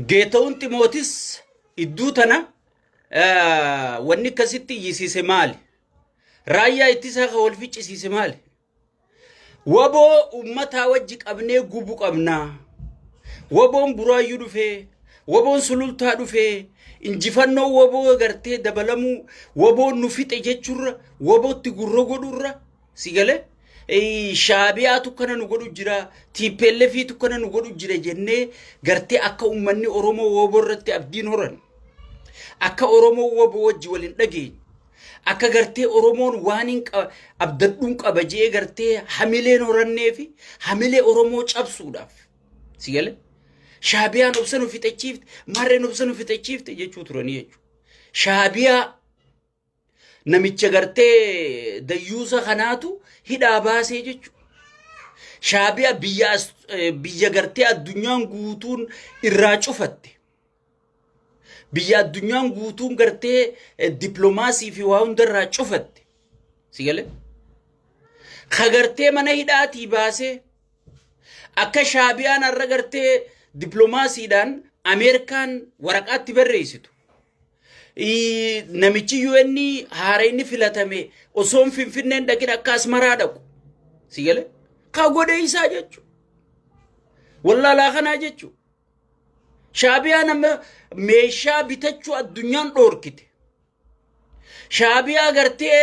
Geetawun Ximootis idduu tana wanni akkasitti iyyisiise maali? Raayyaa ittisaa kan wal ficcisiise maali? Waboo uummataa wajji qabnee gubu qabnaa. Waboon buraayyuu dhufee, waboon sulultaa dhufee, injifannoo waboo gartee dabalamuu, waboon nu fixe jechuurra, wabootti gurra godhurra, Si galee shaabiyaatu kana nu godhu jira, tiippeellefiitu kana nu godhu jira jennee gartee akka uummanni Oromoo wooboo irratti abdiin horan. Akka Oromoo wooboo wajji wal hin dhageenye. Akka gartee Oromoon waan hin abdadhuun qaba jee gartee hamileen horannee fi hamilee Oromoo cabsuudhaaf. Si galee? Shaabiyaan obsa nu fixachiifte, marreen obsa nu fixachiifte jechuu turanii jechuudha. Shaabiyaa Namicha gartee dayyuusa kanaatu hidhaa baasee jechuudha. Shaabiya biyya as- eh, biyya gartee addunyaan guutuun irraa cufatte. Biyya addunyaan guutuun gartee eh, dippiloomaasii fi waa hundarraa cufatte. Si galee? Ka gartee mana hidhaatii baasee akka shaabiyaan har'a gartee dippiloomaasiidhaan Ameerikaan waraqaatti barreessitu. Ii, Namichi UN haara inni filatame osoo hin finfinneen dhaqin akka asmaraa dhaqu. Si galee? Kaa godhee isaa jechuudha. Wallaalaa kanaa jechuudha. Shaabiyaan amma meeshaa bitachuu addunyaan dhoorkite. Shaabiyaa gartee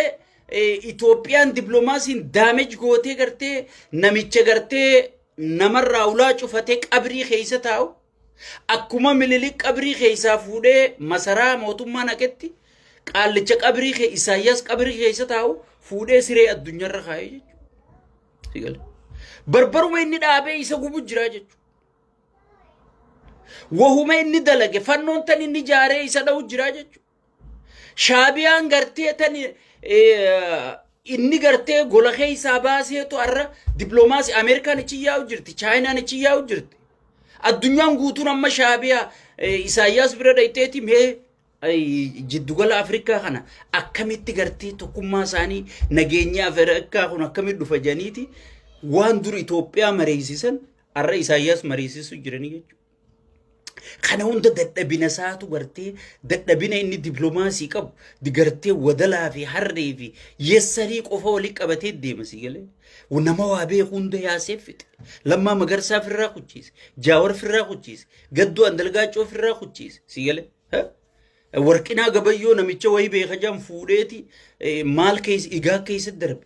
eh, Itoophiyaan diplomaasiin daamej gootee gartee namicha gartee namarraa ulaa cufatee qabrii keessa taa'u. Akkuma Minilik qabrii keessaa fuudhee masaraa mootummaa naqetti qaallicha qabrii kee Isaayyaas qabrii keessa taa'u fuudhee siree addunyaarra kaa'ee jechuudha. Barbaruma inni dhaabee isa gubu jira jechuudha. Wahuma inni dalage fannoon tan inni jaaree isa dha'u jira jechuudha. Shaabiyaan gartee tan inni gartee gola keessaa baaseetu har'a dippiloomaasii Ameerikaan achi yaa'u jirti, Chaayinaan achi yaa'u jirti. Addunyaan guutuun amma shaabiyaa Isaayyaas bira dhayxeeti mee jiddugala Afrikaa kana akkamitti gartee tokkummaa isaanii nageenya Afrikaa kun akkamitti dhufa janiiti waan dur Itoophiyaa mariisisan har'a Isaayyaas mariisisu jiranii jechuudha. Kana hunda dadhabina isaatu gartee dadhabina inni diplomaasii qabu gartee wadalaa fi harree fi yessarii qofa waliin qabatee deema si galee. Nama waa beeku hunda yaasee fixe. Lammaa magarsaa firraa kuchiise. Jaawar firraa kuchiise. Gaddoo andalgaachoo firraa kuchiise si galee. Warqinaa gabayyoo namicha wayii beeka jedhan fuudheeti maal keessa igaa keessa darbe.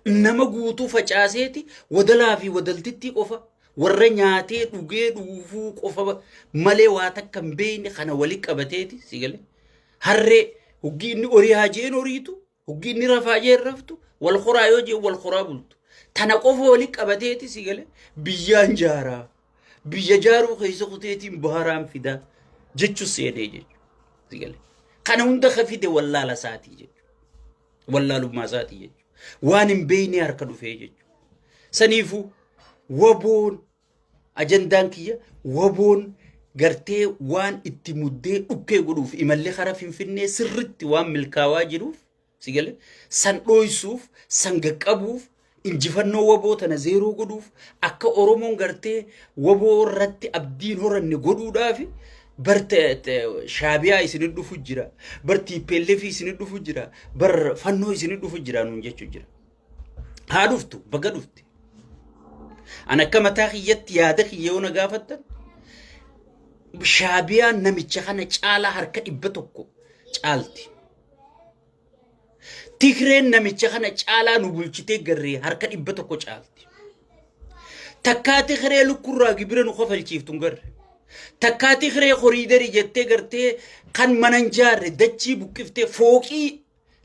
Nama guutuu facaaseeti wadalaa fi wadaltittii qofa warra nyaatee dhugee dhuufuu qofa malee waa takka hin beekne kana walitti qabateeti si galee. Harree hoggi inni horii haa jeen horiitu Hoggi inni rafaa jee raftu wal horaa yoo jee wal horaa bultu. Tana qofa waliin qabateeti si galee biyyaan jaaraa. Biyya jaaruu keessa kuteetiin baharaan fidaa jechuun seenee jechuudha. Si galee. Kana hunda ka fide wallaala isaatii jechuudha. Wallaalummaa isaatii jechuudha. Waan hin beekne harka dhufee jechuudha. Saniifuu waboon Ajandaan kiyya waboon gartee waan itti muddee dhukkee godhuuf imallee karaa finfinnee sirritti waan milkaawaa jiruuf si galee san dhooysuuf san gaqqabuuf injifannoo waboo tana zeeroo godhuuf akka oromoon gartee waboo irratti abdiin horanne godhuudhaaf bar shaabiyaa isinit dhufu jira bar tiippeellefi isinit dhufu jira bar fannoo isinit dhufu jira nuun jechuu jira. Haa dhuftu baga dhufte. An akka mataa kiyyatti yaada kiyya yoo na gaafattan shaabiyaan namicha kana caalaa harka dhibba tokko caalti. Tigreen namicha kana caalaa nu bulchitee garree harka dhibba tokko caalti. Takkaa Tigree lukkurraa gibira nu kafalchiiftu hin garre. Takkaa Tigree koriidarii jettee gartee kan mana hin jaarre dachii buqqiftee fooqii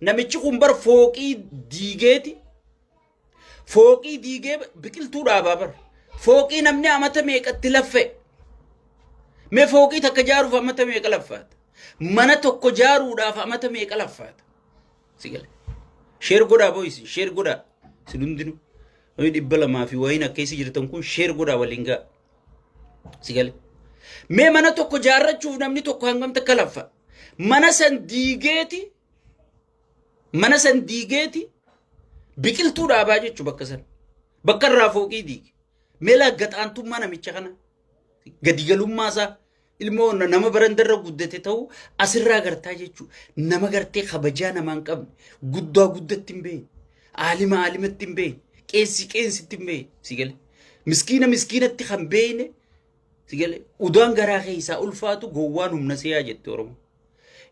Namichi kun bar fooqii diigeeti. Fooqii diigee biqiltuu dhaabaa bar. Fooqii namni amata meeqatti laffa'e. Mee fooqii takka jaaruuf amata meeqa laffaata? Mana tokko jaaruudhaaf amata meeqa laffaata? Si gale. Sheer godhaa boo'isi. Sheer godhaa. Isin hundinuu. Namni dhibba lamaa fi wayiin akka isa jirtan kun sheer godhaa waliin ga'a. Sigale. Mee mana tokko jaarrachuuf namni tokko hangam takka laffa. Mana san diigeeti mana san diigeeti biqiltuu dhaabaa jechu bakka san. Bakka irraa fooqii diige. Mee laaggaxaantummaa namicha kana gadigalummaa isaa Ilmoo na- nama barandarra guddate ta'uu asirraa agartaa jechuudha. Nama gartee kabajaa namaa hin qabne. Guddaa guddatti hin beekne. Aalima aalimatti hin beekne. Qeensi qeensitti hin beekne. Si gale. Miskiina miskiinatti kan beekne. Si gale. Udaan garaa keessaa ulfaatu gowwaan humna seeyaa jette Oromoo.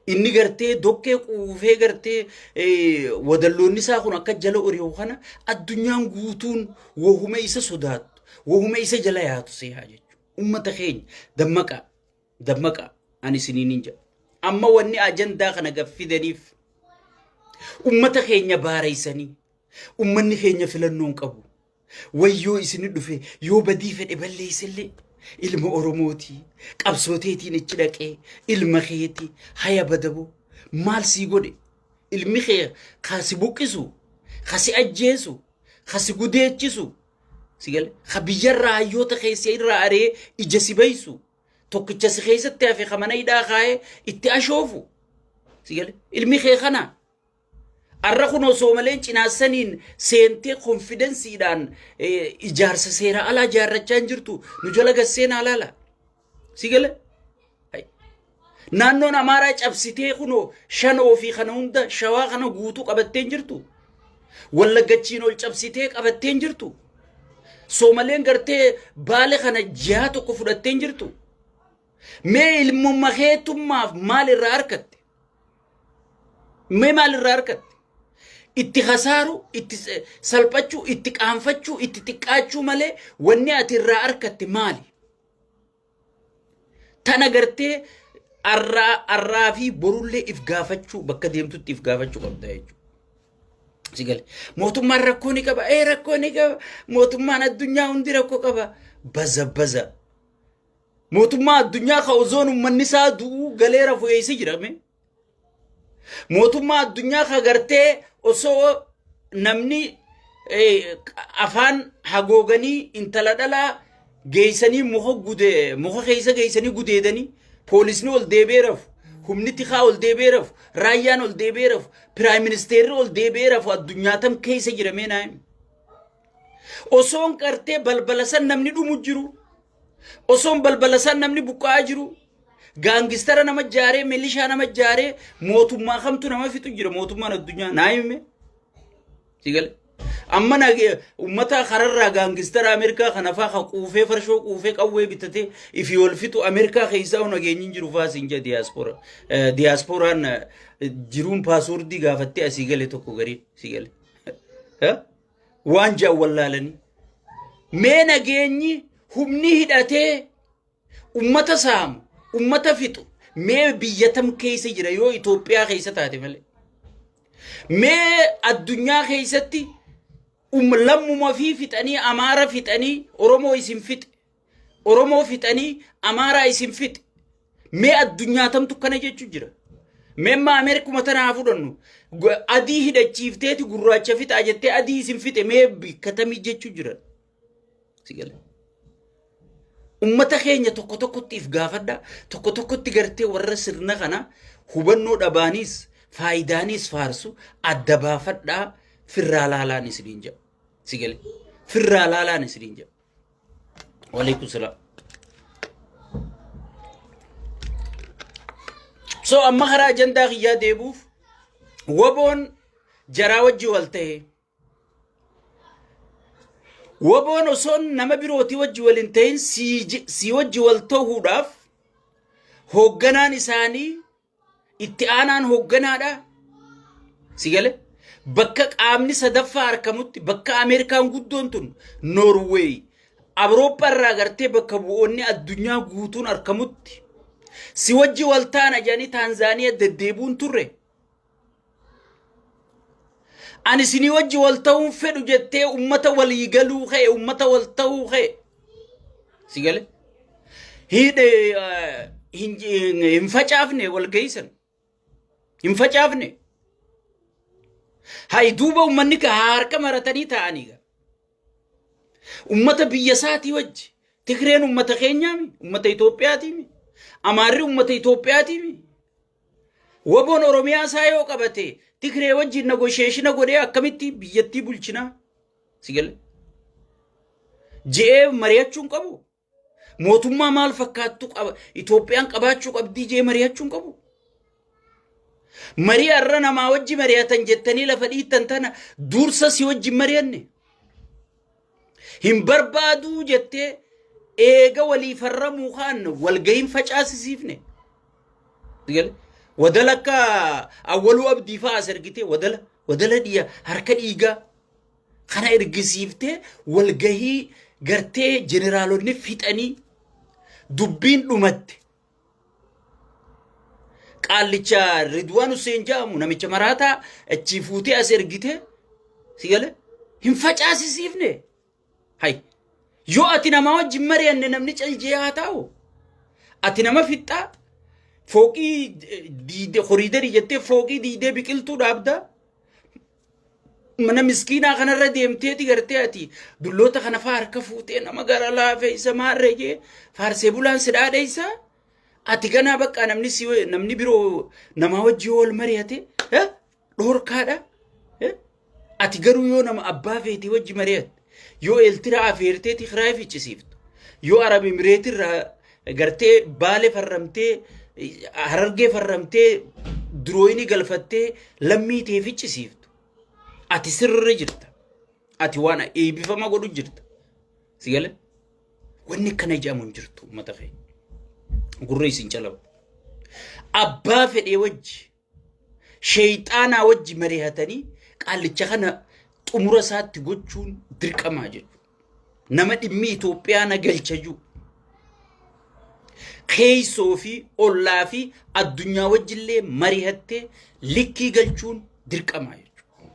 Inni gartee dokkee quufee gartee eh, wadalloonni isaa kun akka jala ori'u kana addunyaan guutuun wahuma isa sodaattu. Wahuma isa jala yaatu seeyaa jechuudha. Ummata keenya dammaqaa dammaqaa ani isiniinin jedha. Amma wanni ajandaa kana gad fidaniif ummata keenya baareessanii ummanni keenya filannoon qabu. Wayyoo isini dhufe yoo badii fedhe balleessellee ilma Oromooti qabsooteetiin ichi dhaqee ilma keeti haya badabo maal sii godhe ilmi kee kasi buqqisu kasi ajjeesu kasi gudeechisu Sigale ka biyyarraa hayyoota keessa irraa aree ija si baysu tokkicha si keessatti hafe ka mana hidhaa kaa'ee itti ashoofu. Sigale ilmi kee kana arra kun osoo malee cinaassaniin seentee konfidensiidhaan ijaarsa seeraa alaa ijaarrachaa hin jirtu nu jala gasseen alaala. Si gala? Naannoon Amaaraa cabsitee kunoo shanoo fi kana hunda shawaa kana guutuu qabatteen jirtu. Wallaggachiin ol cabsitee qabatteen jirtu. Soomaleen gartee baale kana jihaa tokko fudhatteen jirtu. Mee ilmumma keetummaaf maal irraa argatte? Mee maal irraa argatte? Itti hasaaru, itti salphachuu, itti qaanfachuu, itti xiqqaachuu malee wanni ati irraa argatte maali? Tana gartee arraa arraa fi borullee if gaafachuu bakka deemtutti if gaafachuu qabda jechuudha. Si gale. Mootummaan rakkoo ni qaba. Ee rakkoo ni qaba. Mootummaan addunyaa hundi rakkoo qaba. Baza baza. Mootummaa addunyaa ka ozoon uummanni isaa du'uu galee rafu eessa jirame? mootummaa addunyaa ka gartee osoo namni eh, afaan hagooganii intala dhalaa geeysanii muka gude muka keeysa geeysanii gudeedanii poolisni ol deebee rafu humni tikaa ol deebee rafu raayyaan ol deebee rafu piraayim ministeerri ol deebee rafu addunyaa tam keeysa jiramee naayim osoon gartee balbala san namni dhumu jiru Osoon balbala isaan namni buqqa'aa jiru gaangistara nama jaaree milishaa nama jaaree mootummaa kamtu nama fixu jira mootummaan addunyaa naa hime. Sigale. Amma na uummata kararraa gaangistara Ameerikaa kana faa kan quufee farshoo quufee qawwee bitatee ifi wal fixu Ameerikaa keessaa nageenyi hin jiru faa siin jedha diyaaspora. Diyaasporaan jiruun paaswordii gaafattee asii gale tokko garii sigale. waan jedhan wallaalanii mee nageenyi humni hidhatee ummata saamu ummata fixu mee biyya tam keessa jira yoo Itoophiyaa keessa taate malee mee addunyaa keessatti um, lammuma fi fixanii amaara fixanii oromoo isin fixe Oromoo fixanii Amaaraa isin fixe. Mee addunyaa tamtu kana jechu jira. Mee amma Ameerikuma tana haa fudhannu. Gu- Adii hidhachiifteeti gurraacha fixaa jettee adii isin fixe mee bikka tamii jechu jira. Si gale. Ummata keenya tokko tokkotti if gaafadha. Tokko tokkotti gartee warra sirna kana hubannoo dhabaanis faayidaanis faarsu adda baafadhaa firraa laalaan isiniin jedha. Si gale. Firraa laalaan isiniin jedha. Waalaikum salaam. So amma karaa ajandaa kiyyaa deebuuf waboon jaraa wajji wal ta'e. Waboon osoo nama birootii wajji wal hin ta'in sii wajji wal ta'uudhaaf hoogganaan isaanii Itti aanaan hoogganaadha. Si gale? Bakka qaamni sadaffaa argamutti bakka Ameerikaan guddoon tun Noorweey Awurooppaa irraa gartee bakka bu'oonni addunyaa guutuun argamutti si wajji waltaana jedhanii Taanzaaniyaa deddeebuun turre. Ani isinii wajji wal ta'uun fedhu jettee ummata walii galuu kee ummata wal ta'uu kee si gale hidhe hin hin facaafne wal geessan hin facaafne hayi duuba ummanni ka harka maratanii ta'anii ga ummata biyya isaatii wajji Tigreen ummata keenyaami ummata Itoophiyaatiimi Amaarri ummata Itoophiyaatiimi Waboon Oromiyaa isaa yoo qabate Tigree wajjin nagosheeshina godhee akkamitti biyyattii bulchinaa? Si galee? Je'ee mari'achuu hin qabu. Mootummaa maal fakkaattu qaba? Itoophiyaan qabaachuu qabdii je'ee mari'achuu hin qabu. Marii har'a namaa wajji mari'atan jettanii lafa dhiittan tana dursa si wajjin mari'anne. Hin barbaaduu jettee eega walii farramuu kaan walgahin facaasisiifne. Gale. Wadala akka awwaluu abdii fa'aa as ergitee wadala wadala dhiya harka dhiigaa kana ergisiiftee walgahii gartee jeneraalonni fixanii dubbiin dhumatte. Qaallicha Ridwaan Hussein jedhamu namicha maraataa achii fuutee as ergite si gale hin facaasisiifne. Hay yoo ati namaa wajjin mari'anne namni caljee haa taa'u. Ati nama fixxaa fooqii diidee horiidarii jettee fooqii diidee biqiltuu dhaabdaa. mana miskiinaa kanarra deemteeti gartee ati dulloota kana faa harka fuutee nama gara laafeessa maarree jee faarsee bulaan si dhaadheessa ati kanaa bakka namni si namni biroo namaa wajjin wal mari'ate eh, dhorkaadha eh, ati garuu yoo nama abbaa feetii wajji mari'atte Yoo Eeltiraa afeertee Tigraay ficcisiiftu, yoo Arab Imireetii irraa gartee Baalee farramtee, Harargee farramtee, Durooyinii galfattee lammii tee ficcisiiftu, ati sirri jirta. Ati waan eebbifama godhu jirta. Si gale? Wanni kana jedhamu hin jirtu uummata keenya. Gurra isin calabu. Abbaa fedhee wajji. Sheeyxaanaa wajji marihatanii qaallicha kana xumura isaatti gochuun dirqamaa jedhu. Nama dhimmi Itoophiyaa na galcha jiru. Keeysoo fi ollaa fi addunyaa wajjillee marihattee likkii galchuun dirqamaa jechuudha.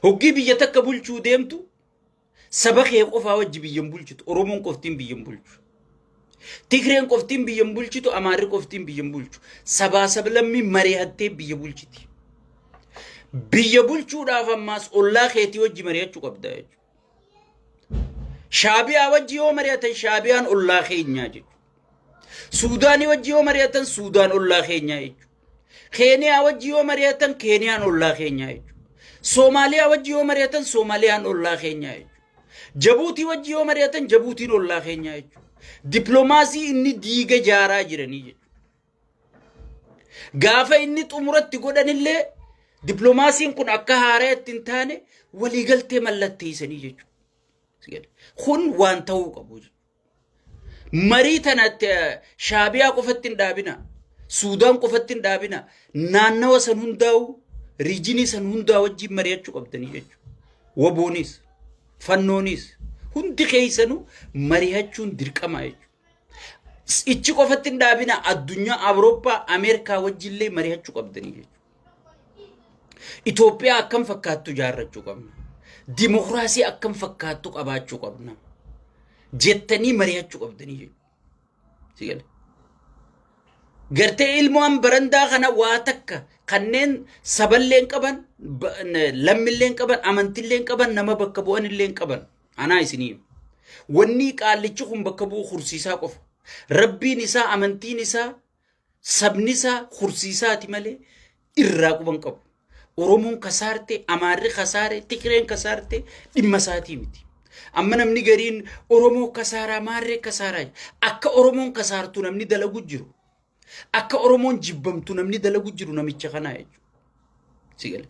Hoggii biyya takka bulchuu deemtu Saba kee qofaa wajji biyya hin bulchitu. Oromoon qoftiin biyya hin bulchu. Tigreen qoftiin biyya hin bulchitu. Amaarri qoftiin biyya hin bulchu. Sabaa sablammii mari'attee biyya bulchiti. Biyya bulchuudhaaf ammaas ollaa keetii wajji mari'achuu qabda jechuudha. Shaabiyaa wajji yoo mari'atan shaabiyaan ollaa keenyaa jechuudha. Suudaanii wajji yoo mari'atan Suudaan ollaa keenyaa jechuudha. Keeniyaa wajji yoo mari'atan Keeniyaan ollaa keenyaa jechuudha. Soomaaliyaa wajji yoo mari'atan Soomaaliyaan ollaa keenyaa jechuudha. Jabuutii wajji yoo mari'atan Jabuutiin ollaa keenyaa jechuudha. Dippiloomaasii inni diiga jaaraa jiranii jechuudha. Gaafa inni xumuratti godhanillee dippiloomaasiin kun akka haaraa itti hin taane waliigaltee mallatteessanii jechuudha. Kun waan ta'uu qabu jechuudha. Marii tana shaabiyaa qofatti hin dhaabina. Suudaan qofatti hin dhaabina. Naannawa san hundaa'u riijinii san hundaa wajjin mari'achuu qabdanii jechuudha. Waboonis, fannoonis hundi keessanuu mari'achuun dirqama jechuudha. Ichi qofatti hin dhaabina addunyaa Awurooppaa Ameerikaa wajjillee mari'achuu qabdanii jechuudha. Itoophiyaa akkam fakkaattu ijaarrachuu qabna. Dimokiraasii akkam fakkaattu qabaachuu qabna. Jettanii mari'achuu qabdanii jechuudha. Gartee ilmoon barandaa kana waa takka kanneen saballeen qaban, lammilleen qaban, amantilleen qaban, nama bakka bu'anilleen qaban. Anaa isinii. Wanni qaallichi kun bakka bu'u horsiisaa qofa. Rabbiin isaa, amantiin isaa, Sabnisaa horsiisaati malee irraa quba hin qabu. Oromoon kasaarte, Amaarri kasaare, Tigreen kasaarte dhimma isaatii miti. Amma namni gariin Oromoo kasaaraa, Amaarree kasaaraa jedha. akka Oromoon kasaartu namni dalagu jiru. Akka Oromoon jibbamtu namni dalagu jiru namicha kanaa jechuudha. Si gale.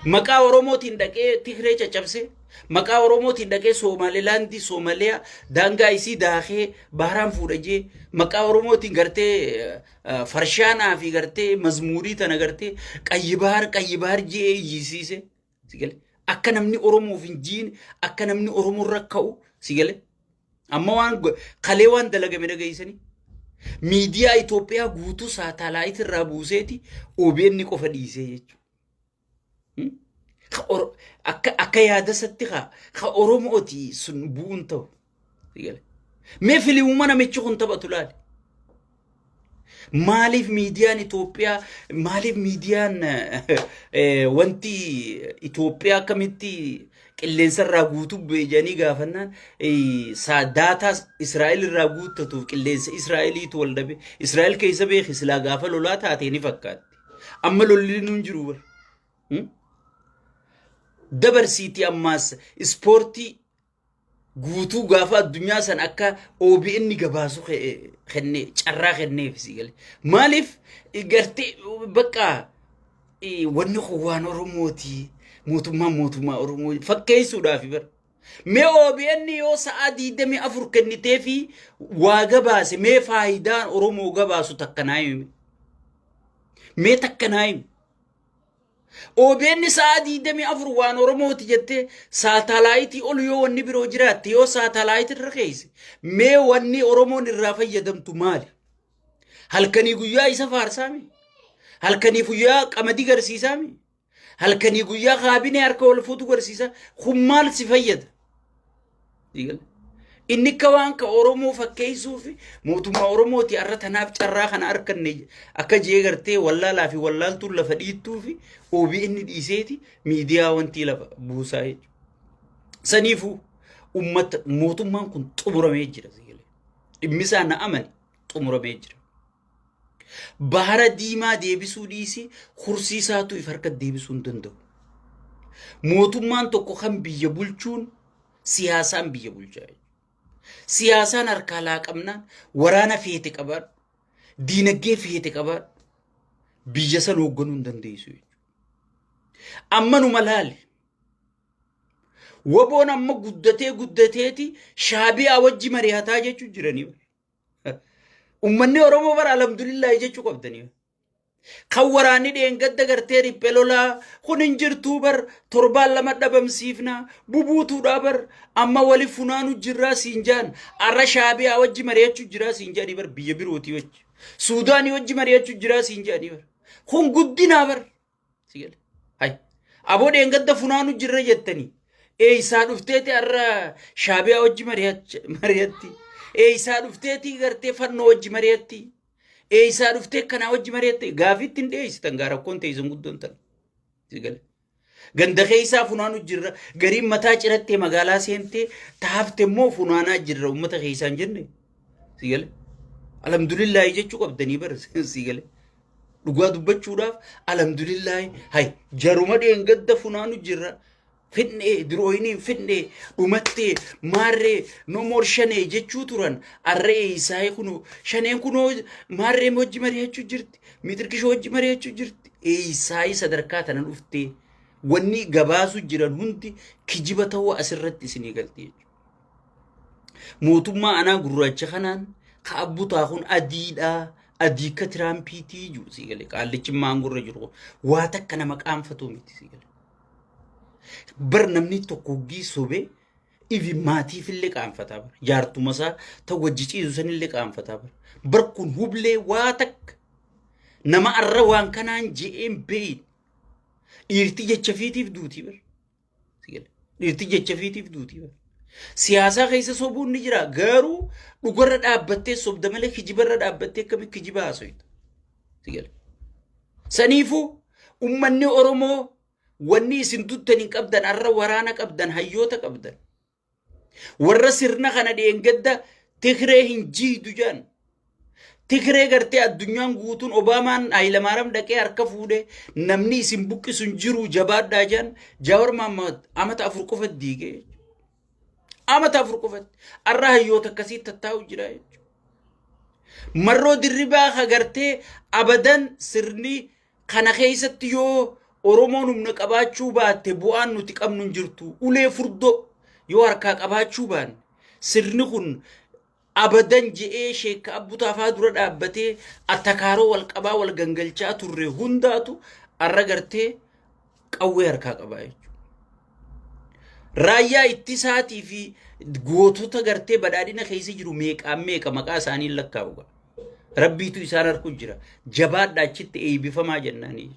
Maqaa Oromootiin dhaqee Tigree caccabsee, maqaa Oromootiin dhaqee Soomaalilaandii, Soomaliyaa, daangaa isii daakee baharaan fuudha jee, maqaa Oromootiin gartee eh, farshaanaa fi gartee mazmuurii tana gartee qayyibaar qayyibaar jee iyyisiise. Si gale. Akka namni Oromoof hin jiine, akka namni Oromoo irra ka'u si gale. Amma waan go- kalee waan dalagame dhageessanii miidiyaa Itoophiyaa guutuu saatalaayit irraa buuseeti OBN qofa dhiisee jechuudha. Ka Oro- Akka akka yaadasatti kaa ka Oromooti sun bu'uun ta'u. Mee filimuuma namichi kun taphatu laali. Maaliif miidiyaan Itoophiyaa maaliif miidiyaan wanti Itoophiyaa akkamitti qilleensa irraa guutuu bu'e jedhanii gaafannaan daataa Israa'el irraa guuttatuuf qilleensa Israa'eliitu wal dhabe. Israa'el keessa beeki silaa gaafa lolaa taatee ni fakkaatti. Amma lolli nuun jiru bar. Dabarsiitii ammaas ispoortii guutuu gaafa addunyaa san akka OBN gabaasu kenne carraa kenneef si gale. Maaliif gartee bakka wanni kun waan Oromooti mootummaan mootummaa Oromoo fakkeessuudhaaf bara. Mee OBN yoo sa'aa 24 kennitee fi waa gabaase mee faayidaan Oromoo gabaasu takka naa himi. Mee takka naa himi. OBN sa'a 24 waan Oromooti jettee saataalaayitii ol yoo wanni biroo jiraatte yoo saataalaayitii irra keeyse mee wanni Oromoon irraa fayyadamtu maali? Halkanii guyyaa isa faarsaami. Halkanii guyyaa qamadii garsiisaami. Halkanii guyyaa kaabinee harka wal fuutu garsiisa. Kun maal si fayyada? Inni akka waan ka Oromoo fakkeessuu fi mootummaa Oromooti har'a tanaaf carraa kana arkanne akka jee gartee wallaalaa fi wallaaltuun lafa dhiittuu fi OBN dhiiseeti miidiyaa wantii lafa buusaa jechuudha. Saniifuu uummata mootummaan kun xumuramee jira. Dhimmisaa na amani xumuramee jira. Baara diimaa deebisuu dhiisii kursiisaatu if harkatti deebisuu hin danda'u. Mootummaan tokko kan biyya bulchuun siyaasaan biyya bulchaa jechuudha. Siyaasaan harkaa laaqamnaan waraana feete qabaadhu, diinagdee feete qabaadhu, biyya san hoogganuu hin dandeessu jechuudha. Amma numa laali. Waboon amma guddatee guddateeti shaabiyaa wajji mari'ataa jechuun jiranii bara. Ummanni Oromoo bara alhamdulillahi jechuu qabdanii. Kan waraanni dheengadda gartee riphee lolaa kun hin jirtuu bar torbaan lama dhabamsiifna bubuutuudhaa bar amma wali funaanu jirraa siin jaan arra shaabiyaa wajji mari'achuu jiraa siin jaanii bar biyya birootii wajji suudaanii wajji mari'achuu jiraa siin jaanii bar kun guddinaa bar Si gale. Hay. Aboo dheengadda funaanu jirra jettanii. Eeysaa dhufteeti har'a shaabiyaa wajji mari'ach- mari'atti. Eeysaa dhufteeti gartee fannoo wajji mari'atti. Eeysaa dhuftee kanaa wajji mari'atti. Gaafiitti hin dhiyeessitan gaa rakkoon teessan guddoon tan. Si gale. Ganda keessaa funaanu jirra. Gariin mataa cirattee magaalaa seentee taafte immoo funaanaa jirra uummata keessaan jenne. Si gale. Alhamdulillaahi jechuu qabdanii bara si gale. Dhugaa dubbachuudhaaf alhamdulillaahi hay jaruma dheengadda funaanu jirra. Fidhee dirooyiniin fidhee dhumattee maarree no more shanee jechuu turan arree isaa'ee kunoo shaneen kunoo maarree hojji mari'achuu jirti mitirkishoo hojji mari'achuu jirti isaa'ee sadarkaa tana dhuftee wanni gabaasuu jiran hundi kijiba ta'uu asirratti isinii galti jechuudha. Mootummaa anaa gurraacha kanaan ka abbutaa kun adiidhaa adii akka tiraampiitii jiru sii galee qaallichi maangorra jiru kun waa takka nama qaanfatuu miti sii galee. Bar namni tokko hoggii sobee ifi maatiif illee qaanfataa bara jaartuma isaa ta wajji ciisu san illee qaanfataa bara bar kun hublee waa takka nama arra waan kanaan je'een beeyin dhiirti jecha fiitiif duutii bara. Dhirti jecha fiitiif duuti. Siyaasaa keessa sobuun ni jira garuu dhugarra dhaabbattee sobda malee kijibarra dhaabbattee akkamitti kijiba haasoyta. Saniifuu ummanni Oromoo wanni isin duttan hin qabdan arra waraana qabdan hayyoota qabdan. Warra sirna kana dheengadda Tigree hin jiidu jedhan. Tigree gartee addunyaan guutuun Obaamaan Hayilamaaram dhaqee harka fuudhe namni isin buqqisu hin jiru jabaadhaa jedhan Jaawar Maammaad amata afur qofatti diigee amata afur qofatti har'a hayyoota akkasii tattaa'u jira jechuudha. Marroo dirribaa ka gartee abadan sirni Kana keessatti yoo Oromoon humna qabaachuu baatte bu'aan nuti qabnu hin jirtu. Ulee furdoo yoo harkaa qabaachuu baanne sirni kun abadan je'ee sheekka abbutaa faa dura dhaabbatee attakaaroo wal qabaa wal gangalchaa turre hundaatu arra gartee qawwee harkaa qabaa jechuudha. Raayyaa ittisaatii fi gootota gartee badhaadhina keessa jiru meeqaan meeqa maqaa isaanii lakkaa'u ga'a. Rabbiitu isaan harku jira. Jabaadhaa achitti eebbifamaa jennaanii.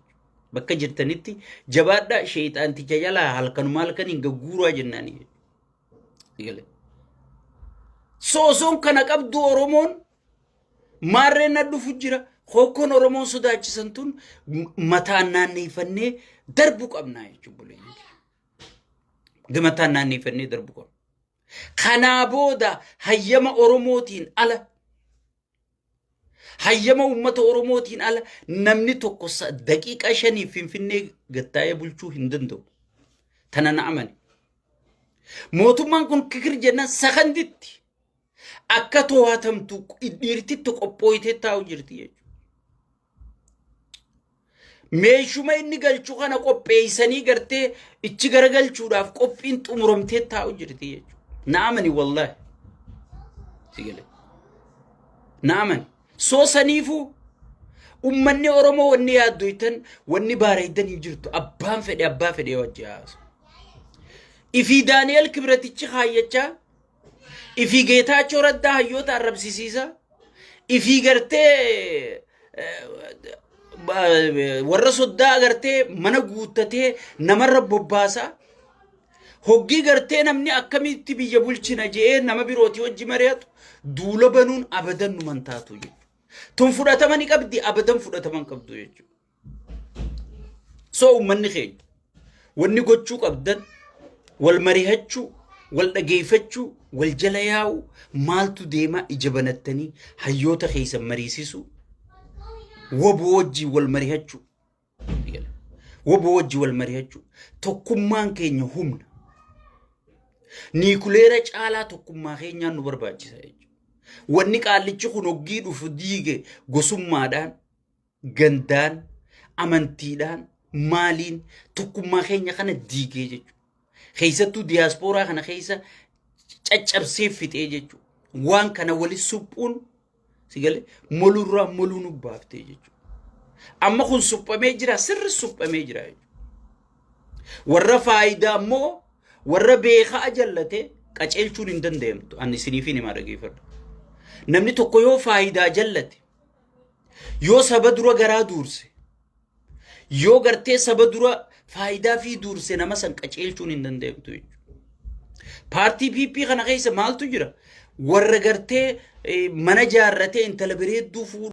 Bakka jirtanitti jabaadhaa sheexaanticha jalaa halkanuma halkaniin gagguuraa jennaanii. Sosoon kana qabdu Oromoon Maarreen na dhufu jira. Hokkoon Oromoon sodaachisan tun mataan naanneeffannee darbu qabna jechuun buleeyyi. Gamataan naanneeffannee darbu qabna. Kanaa booda hayyama Oromootiin ala hayyama uummata Oromootiin ala namni tokko daqiiqaa shaniif Finfinnee gattaa'ee bulchuu hin danda'u. Tana na amane. Mootummaan kun kikir jennaan sakanditti akka to'atamtu dhiirtitti qophooytee taa'u jirti jechuudha. Meeshuma inni galchu kana qopheessanii gartee ichi garagalchuudhaaf qophiin xumuramtee taa'u jirti jechuudha. Naamani wallahi. Si galee. Naamani. Soo saniifuu ummanni Oromoo wanni yaaddoytan wanni baareeydan hin jirtu abbaan fedhe abbaa fedhe wajji haasu. Ifii Daani'el Kibratichi kaayyachaa Ifii Geetaachoo Raddaa hayyoota arrabsisiisa. Ifii gartee warra soddaa agartee mana guuttatee namarra bobbaasa. Hoggii gartee namni akkamitti biyya bulchina je'ee nama birooti hojji mari'atu duula banuun abadan numan taatu jechuudha. Tun fudhatama ni qabdi abadan fudhatama hin qabdu jechuudha. Soo uummanni keenya wanni gochuu qabdan wal marihachuu, wal dhageeffachuu, wal jala yaa'uu, maaltu deemaa ija banattanii hayyoota keessan mariisisuu, waboo wajjin wal marihachuu. Waboo wajjin wal marihachuu. Tokkummaan keenya humna. Niikuleera caalaa tokkummaa keenyaan nu barbaachisa jechuudha. Wanni qaallichi kun hoggii dhufu diige gosummaadhaan gandaan amantiidhaan maaliin tokkummaa keenya kana diigee jechuudha. Keessattuu diyaaspooraa kana keessa caccabsee fixee jechuudha. Waan kana wali suphuun sigalee molurraa moluu nu baaftee jechuudha. Amma kun suphamee jira sirri suphamee jira jechuudha. Warra faayidaa immoo warra beekaa jallate qaceelchuun hin danda'amtu. Ani isiniif hin himaa dhageeffadha. Namni tokko yoo faayidaa jallate Yoo saba dura garaa duurse, yoo gartee saba dura faayidaa fi duurse nama san qaceelchuun hin danda'amtu jechuudha. Paartii PP kana keessa maaltu jira? Warra gartee eh, mana jaarratee intala bareedduu fuudhu.